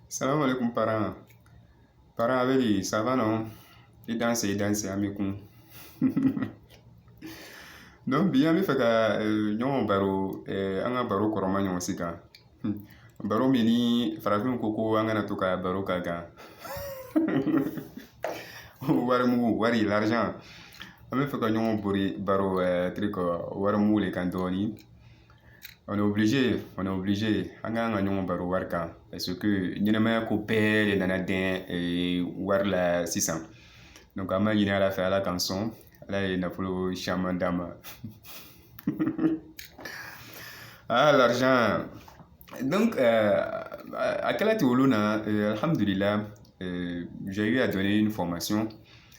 Salam alaikum parents. Parents chéris, ça va non I danse i danse an bɛ kun. Donc bi an b'a fɛ ka eh, ɲɔgɔn baro eh, an ka baro kɔrɔma ɲɔgɔn si kan. Baro min ni farafinw ko ko an kana to ka baro k'a kan. wari mugu wari l'argent an b'a fɛ ka ɲɔgɔn bori baro eh, tiri kɔ wari mugu le kan dɔɔni. on est obligé on est obligé an kan ka ɲɔgɔn baro wari kan parce que ɲɛnɛmaya ko bɛɛ de nana dɛn eh, wari la sisan donc an b'a ɲini ala fɛ ala k'an sɔn ala ye nafolo caman d'an ma ah l'argent donc euh, à quel âge tu na euh, alhamdulillah euh, j'ai eu à donner une formation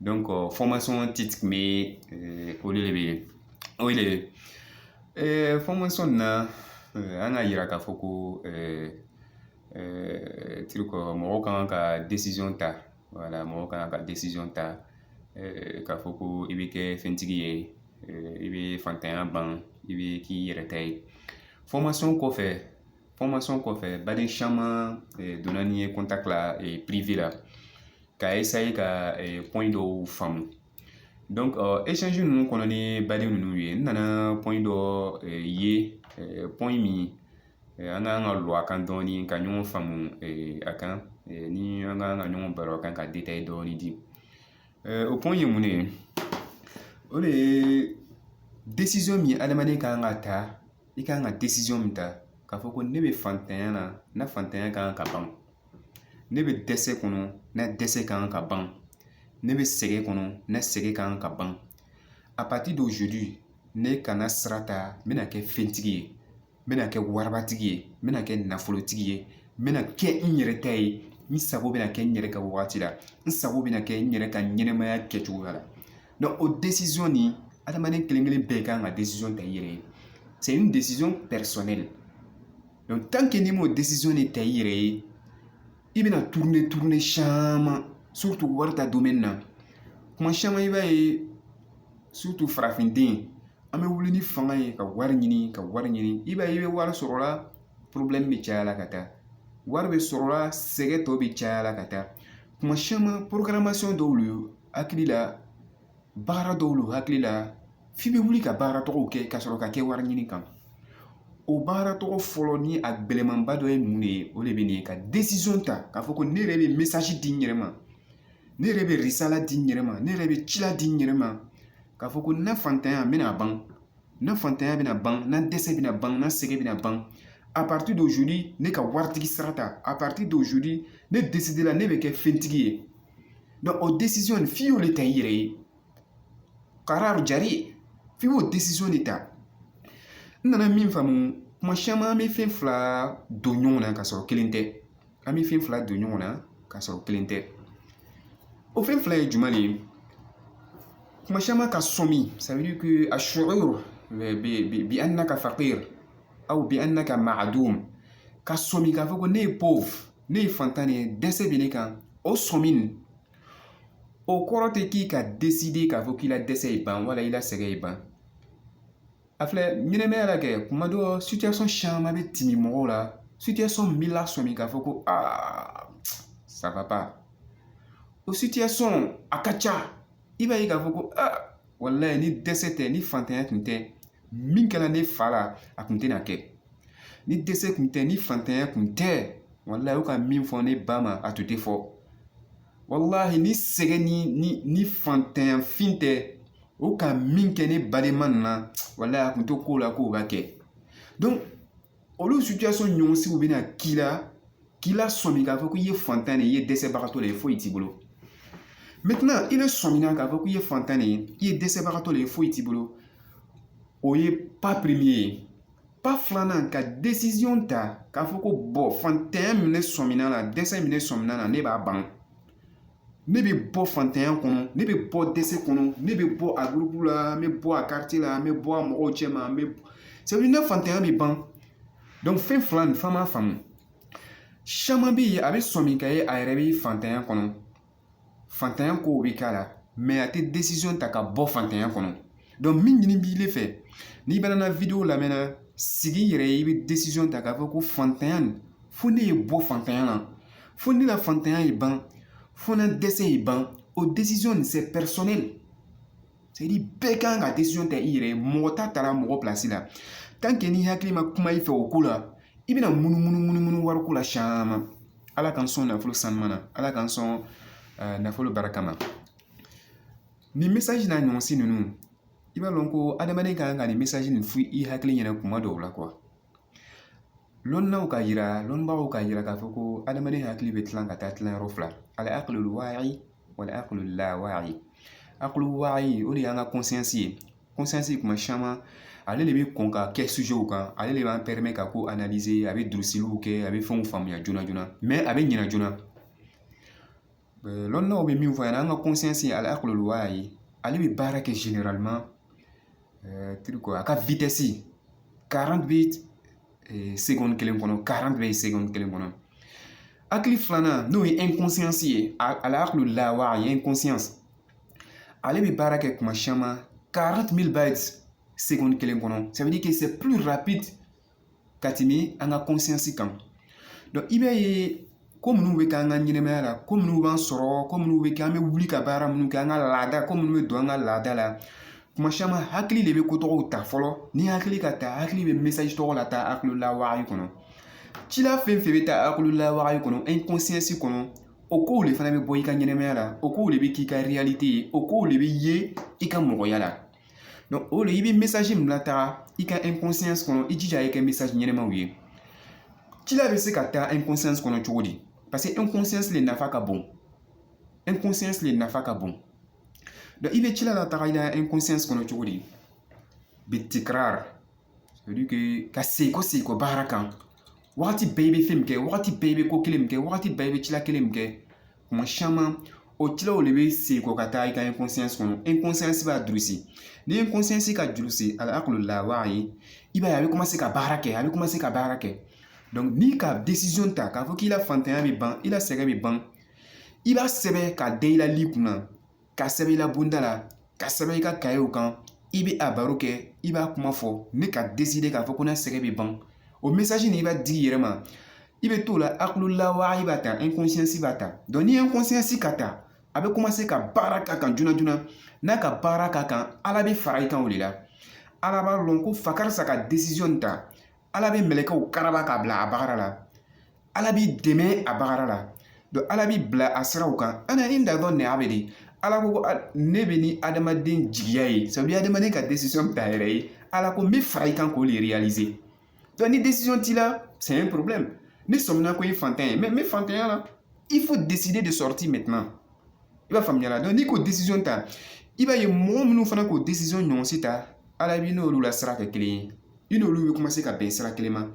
donc fɔmasɔn ti kun bɛ olu de bɛ yen o de ye fɔmasɔn na an k'a yira k'a fɔ ko tirikɔ mɔgɔw kan ka desizɔn ta wala mɔgɔw kan ka desizɔn ta k'a fɔ ko i bɛ kɛ fɛntigi ye i bɛ fantanya ban i bɛ k'i yɛrɛ ta ye fɔmasɔn kɔfɛ fɔmasɔn kɔfɛ baden caman donna ne yɛrɛ ta privé la ka ka pɔn dɔw faamu ninnu kɔnɔ ni bali ninnu ye n nana pɔn dɔ ye pɔn min an ka kan ka don a kan dɔɔnin ka ɲɔgɔn faamu a kan ni an ka kan ka ɲɔgɔn baro a kan ka dɔɔnin di o pɔn ye mun ye o de ye min adamaden kan ka ta i kan ka min ta k'a fɔ ko ne bɛ fantanya na n ka fantanya kan ka ban ne bɛ dɛsɛ kɔnɔ na dɛsɛ kan ka ban ne bɛ sɛgɛn kɔnɔ na sɛgɛn kan ka ban à partir d'aujourd'hui ne kana sira ta n bɛna kɛ fɛntigi ye n bɛna kɛ waribatigi ye n bɛna kɛ nafolotigi ye n bɛna kɛ n yɛrɛ ta ye n sago bɛna kɛ n yɛrɛ ka wagati la n sago bɛna kɛ n yɛrɛ ka ɲɛnɛmaya kɛcogoya la donc o desizɔn nin adamaden kelen kelen bɛɛ kan ka desizɔn ta i yɛrɛ ye c'est une décision personnelle n'i ma desizɔn nin ta i yɛrɛ ye i bɛna tourner tourner caman surtout wari ta domaine na kuma caman i b'a ye surtout farafinden an bɛ wuli ni fanga ye ka wari ɲini ka wari ɲini i b'a ye i bɛ wari sɔrɔ la problème bɛ caya la ka taa wari bɛ sɔrɔ la sɛgɛn tɔ bɛ caya la ka taa kuma caman programmation dɔw ye hakili la baara dɔw lo hakili la f'i bɛ wuli ka baara tɔgɔw kɛ ka sɔrɔ ka kɛ wari ɲini kan o baara tɔgɔ fɔlɔ ni a gɛlɛmanba dɔ ye mun le ye o le bɛ nin ye ka desizɔn ta k'a fɔ ko ne yɛrɛ bɛ mesazi di n yɛrɛ ma ne yɛrɛ bɛ risala di n yɛrɛ ma ne yɛrɛ bɛ cila di n yɛrɛ ma k'a fɔ ko n na fantanya bɛna ban na fantanya bɛna ban na dɛsɛ bɛna ban na sɛgɛn bɛna ban à partir d'aujourd'hui ne ka waritigi sira ta à partir d'aujourd'hui ne desidela ne bɛ kɛ fɛntigi ye donc o desiziyɔn nin f'i y'o le ta i yɛrɛ ye karar jari f'i y'o desiziyɔn de ta n nana min faamu kuma caman bɛ fɛn fila don ɲɔgɔn na ka sɔrɔ kelen tɛ an bɛ fɛn fila don ɲɔgɔn na ka sɔrɔ kelen tɛ o fɛn fila ye jumɛn de ye kuma caman ka sɔmi ça veut dire asuur bi anaka fakir aw bi anaka maadum ka sɔmi k'a fɔ ko ne ye pauvre ne ye fantan ye dɛsɛ bɛ ne kan o sɔmi nin o kɔrɔ tɛ k'i ka deside k'a fɔ k'i la dɛsɛ ye ban wala i la sɛgɛn ye ban a filɛ ɲɛnɛmaya la kɛ kuma dɔ situation caman bɛ timi mɔgɔw la situation min b'i lasɔmi k'a fɔ ko aa ça va pas o situation a ka ca i b'a ye k'a fɔ ko aa walayi ni dɛsɛ tɛ ni fantanya kun tɛ min kɛra ne fa la a kun tɛna kɛ ni dɛsɛ kun tɛ ni fantanya kun tɛ walayi u ka min fɔ ne ba ma a tun tɛ fɔ walahi ni sɛgɛn ni ni ni fantanya fin tɛ o ka min kɛ ne badenma nin na walahi a kun t'o ko la k'o ka kɛ donc olu situation ɲɔgɔnsiw bɛna k'i la k'i lasɔmi k'a fɔ k'i ye fantan de ye i ye dɛsɛbagatɔ de ye foyi t'i bolo maintenant i bɛ sɔmina k'a fɔ k'i ye fantan de ye i ye dɛsɛbagatɔ de ye foyi t'i bolo o ye pas premier ye pas filanan ka desizɔn ta k'a fɔ ko bɔn fantanya min ne sɔmina na dɛsɛ min ne sɔmina na ne b'a ban ne bɛ bɔ fantanya kɔnɔ ne bɛ bɔ dɛsɛ kɔnɔ ne bɛ bɔ a gurupu la n bɛ bɔ a kariti la n bɛ bɔ a mɔgɔw cɛma n bɛ sabu ne fantanya bɛ ban dɔnku fɛn fila nin f'an b'a faamu caman bɛ yen a bɛ sɔmi ka ye a yɛrɛ bɛ fantanya kɔnɔ fantanya kow bɛ k'a la mɛ a tɛ decision ta ka bɔ fantanya kɔnɔ donc min ɲini b'i fɛ n'i banna video lamɛn na sigi yɛrɛ ye i bɛ decision ta k'a fɔ ko fantanya nin fo ne ye bɔ fantanya na fo ne ka fantanya ye ban fo na dɛsɛ ye ban o decision nin bɛɛ kan ka decision ta i yɛrɛ ye mɔgɔ t'a tara mɔgɔ pilasi la tant que n'i hakili ma kuma i fɛ o ko la i bɛna munumunu munumunu wari ko la caman ala k'an sɔn nafolo sanuya na ala k'an sɔn nafolo barikama nin mesaji n'a ɲɔgɔnsi ninnu i b'a dɔn ko adamaden ka kan ka nin mesaji nin f'i hakili yɛlɛ kuma dɔw la lɔnnilaw k'a yira lɔnbagaw k'a yira k'a fɔ ko adamaden hakili bɛ tilan ka taa tilan yɔrɔ fila alakilul waayi walakilul lawaayi akilul waayi o de y'an ka konsiyansi ye konsiyansi kuma caman ale de bɛ kɔn ka kɛ sujew kan ale de b'an pɛrɛmɛ ka ko analize a bɛ durusiliw kɛ a bɛ fɛnw faamuya joona joona mɛ a bɛ ɲina joona lɔnnaw bɛ min fɔ a ɲɛna an ka conscience alakulu waayi ale bɛ baara kɛ généralement a ka vitesse quarante bits segɔni kelen kɔnɔ quarante bits segɔni kelen kɔnɔ hakili filanan n'o ye inconscience ye alakulu lawaayi ale bɛ baara kɛ kuma caman quarante bɛ ba segɔni kelen kɔnɔ sɛbɛn kɛ se ka tɛmɛ an ka kɔnsiyɛnsi kan i b'a ye ko minnu bɛ kɛ an ka ɲɛnɛmaya la ko minnu b'an sɔrɔ ko minnu bɛ kɛ an bɛ wuli ka baara minnu kɛ an ka laada ko minnu bɛ don an ka laada la kuma caman hakili de bɛ ko tɔgɔw ta fɔlɔ ni hakili k'a ta hakili bɛ mesaji tɔgɔ lataa hakililawaayi kɔnɔ cila fɛn fɛn bɛ taa hakililawaayi kɔnɔ ɛnkɔnsiyɛnsi kɔnɔ o kow de fana bɛ bɔ i ka ɲɛnɛmaya la o kow de bɛ k'i ka ye o kow de bɛ ye i ka mɔgɔya la Donc, o de i bɛ mesaji min lataga i ka inconscience kɔnɔ i jija a ye kɛ mesaji ɲɛnamaw ye cila bɛ se ka taa inconscience kɔnɔ cogo di parce que inconscience le nafa ka bon inconscience le nafa ka bon donc i bɛ cila lataga i la inconscience kɔnɔ cogo di bitikrar c'est à dire que ka segin kɔ segin kɔ baara kan wagati bɛɛ i bɛ fɛn min kɛ wagati bɛɛ i bɛ ko kelen min kɛ wagati bɛɛ i bɛ cila kelen min kɛ kuma caman o cilaw de bɛ sigi kɔ ka taa i ka kɔnɔ b'a durusi ni ye ka juru se a kulu la wa ye i b'a ye a bɛ ka baara kɛ a bɛ ka baara kɛ ni ka ta k'a fɔ k'i la fantanya bɛ ban i la sɛgɛn bɛ ban i b'a sɛbɛn ka den i la li kunna k'a sɛbɛn i la bonda la k'a sɛbɛn i ka kayew kan i bɛ a baro kɛ i b'a kuma fɔ n'i ka deside k'a fɔ ko n na sɛgɛn bɛ ban o mesaji nin i b'a di i yɛrɛ ma i bɛ t'o la hakililawaayi b'a ta ɛnkɔnsiyɛnsi b'a ta donc ni ɛnkɔnsiyɛnsi k'a ta a bɛ komase ka baara k'a kan joona joona n'a ka baara k'a kan ala bɛ fara i kan o de la ala b'a lɔn ko fa karisa ka desiziyɔn ta ala bɛ mɛlɛkɛw karaba k'a bila a bagara la ala b'i dɛmɛ a baara la ala b'i bila a siraw kan ana inda zanni abdi ala ko ne bɛ ni adamaden jigiya ye sabu adamaden ka ta yɛrɛ ye ala ko n bɛ fara i kan k'o de ni t'i la c'est un problème n'i sɔmina ko i fantan ye mɛ n bɛ fantanya la il faut décider de sortir maintenant i b'a faamuya la n'i k'o décision ta i b'a ye mɔgɔ minnu fana k'o décision ɲɔgɔn si ta ala b'i n'olu la sira kɛ kelen ye i n'olu bɛ ka bɛn sira kelen ma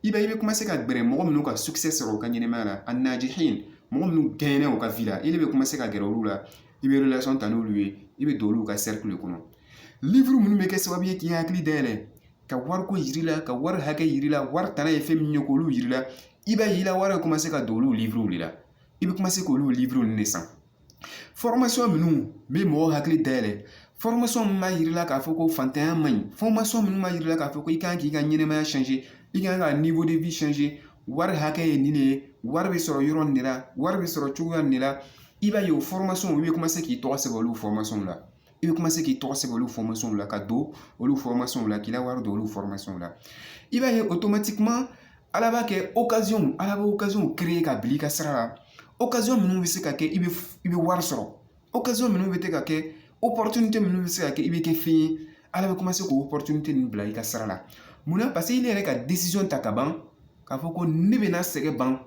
i b'a ye i bɛ komase ka gɛrɛ mɔgɔ minnu ka sukisɛ sɔrɔ u ka ɲɛnɛmaya la annajihin mɔgɔ minnu gaɲɛna u ka vi la i de bɛ komase ka gɛrɛ olu la i bɛ ta n'olu ye i bɛ don olu ka de kɔnɔ livuru minnu bɛ kɛ sababu ye k'i hakili dayɛlɛ ka wariko yira i la ka wari hakɛ yira i la wari tana ye fɛn min ye k'olu yira i la i b'a ye i la wari bɛ komase ka don olu livuruw de la i bɛ komase k'olu livuru ninnu de san minnu bɛ mɔgɔw hakili dayɛlɛ min b'a jira i la k'a fɔ ko fantanya man ɲi minnu b'a jira k'a fɔ ko i kan k'i ka ɲɛnɛmaya i kan ka wari hakɛ ye nin de ye wari bɛ sɔrɔ yɔrɔ nin de la wari bɛ sɔrɔ cogoya nin de la i b'a ye o u bɛ k'i tɔgɔ sɛbɛn olu la i bɛ commencer k'i tɔgɔ sɛbɛn olu la ka don olu la k'i la wari don olu la i b'a ye automatiquement ala b'a kɛ ala bɛ occasionw créer ka bil'i ka sira la o minnu bɛ se ka kɛ i bɛ i bɛ wari sɔrɔ o minnu bɛ se ka kɛ o minnu bɛ se ka kɛ i bɛ kɛ fɛn ye ala bɛ commencer k'o ninnu bila i ka sira la munna parce que ne yɛrɛ ka ta ka ban k'a fɔ ko ne bɛna sɛgɛn ban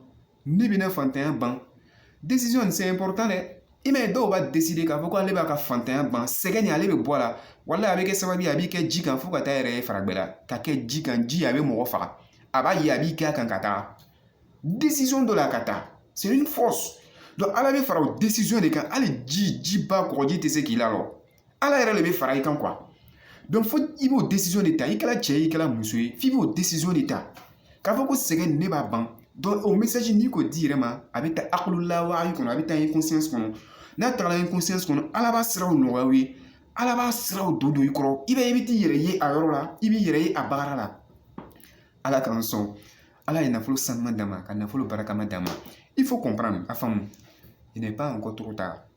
Ne bɛna fantanya ban decision c'est important dɛ i m'a ye dɔw b'a décider k'a fɔ ko ale b'a ka fantanya ban sɛgɛn nin ale bɛ bɔ a la wala a bɛ kɛ sababu ye a b'i kɛ ji kan fo ka taa yɛrɛ ye faragbɛla ka kɛ ji kan ji a bɛ mɔgɔ faga a b'a ye a b'i kɛ a kan ka taa decision dɔ la a k'a ta c'est une force donc ala bɛ fara o decision de kan hali ji jiba kɔgɔji tɛ se k'i lalɔ ala yɛrɛ de bɛ fara i kan fo i b'o de ta i kɛra cɛ ye i kɛra muso ye f'i b'o de ta k'a fɔ ko sɛgɛn ne b'a ban o message n'i k'o d'i yɛrɛ ma a bɛ taa i hakili la wa i kɔnɔ a bɛ taa i kɔnɔ n'a tagara i kɔnɔ ala b'a siraw nɔgɔya i ye ala b'a siraw don don i kɔrɔ i b'a ye i bɛ t'i yɛrɛ ye a yɔrɔ la i b'i yɛrɛ ye a baara la ala k'an sɔn ala ye nafolo sanuman d'an ma ka nafolo barikama d'an ma il faut comprendre a faamu i ne ba ko tɔgɔ ta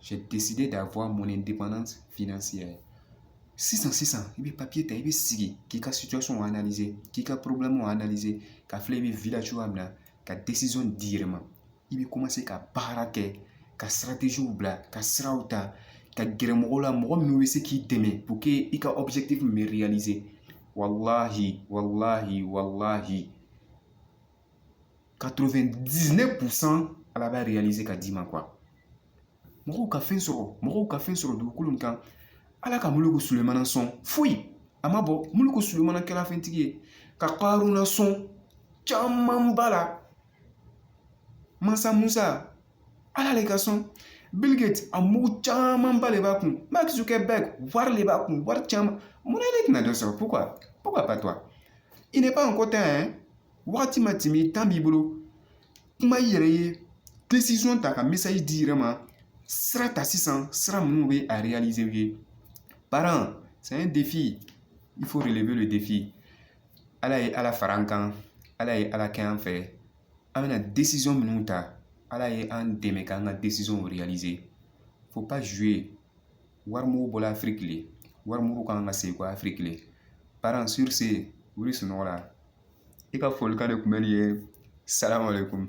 j'ai décidé d'avoir mon indépendance financière sisan sisan i bɛ papiye ta i bɛ sigi k'i ka situation analyser k'i ka problème analyser ka filɛ i bɛ vivre la cogoya min na ka décision d'i yɛrɛ ma i bɛ commencer ka baara kɛ ka stratégies bila ka siraw ta ka gɛrɛ mɔgɔw la mɔgɔ minnu bɛ se k'i dɛmɛ pour que i ka objectif min bɛ réaliser walahi walahi walahi 99 pourcent ala b'a réaliser ka d'i ma quoi mɔgɔw ka fɛn sɔrɔ mɔgɔw ka fɛn sɔrɔ dugukolo nin kan ala ka muluku sulemana sɔn foyi a ma bɔ muluku sulemana kɛra fɛntigi ye ka karuna sɔn camanba la mansa musa ala le ka sɔn bill gates a mugu camanba de b'a kun mark zuckerberg wari de b'a kun wari caman mun na ne tɛna dɔ sɔrɔ pourquoi pourquoi pas toi il n'est pas encore tard hein wagati ma tɛmɛ temps b'i bolo kuma i yɛrɛ ye desizɔn ta ka message di i yɛrɛ ma sira ta sisan sira minnu bɛ a réaliser ye parent c'est un défi il faut relever le défi ala ye ala fara an kan ala ye ala kɛ an fɛ an bɛna desizɔn minnu ta ala ye an dɛmɛ k'an ka desizɔnw réaliser il faut pas jouer wari mugu bɔla afriki le wari mugu ka kan ka sekɔ afriki le parent sur ce wuli sunɔgɔ la i ka folikan de kun bɛ nin ye salamu alaikum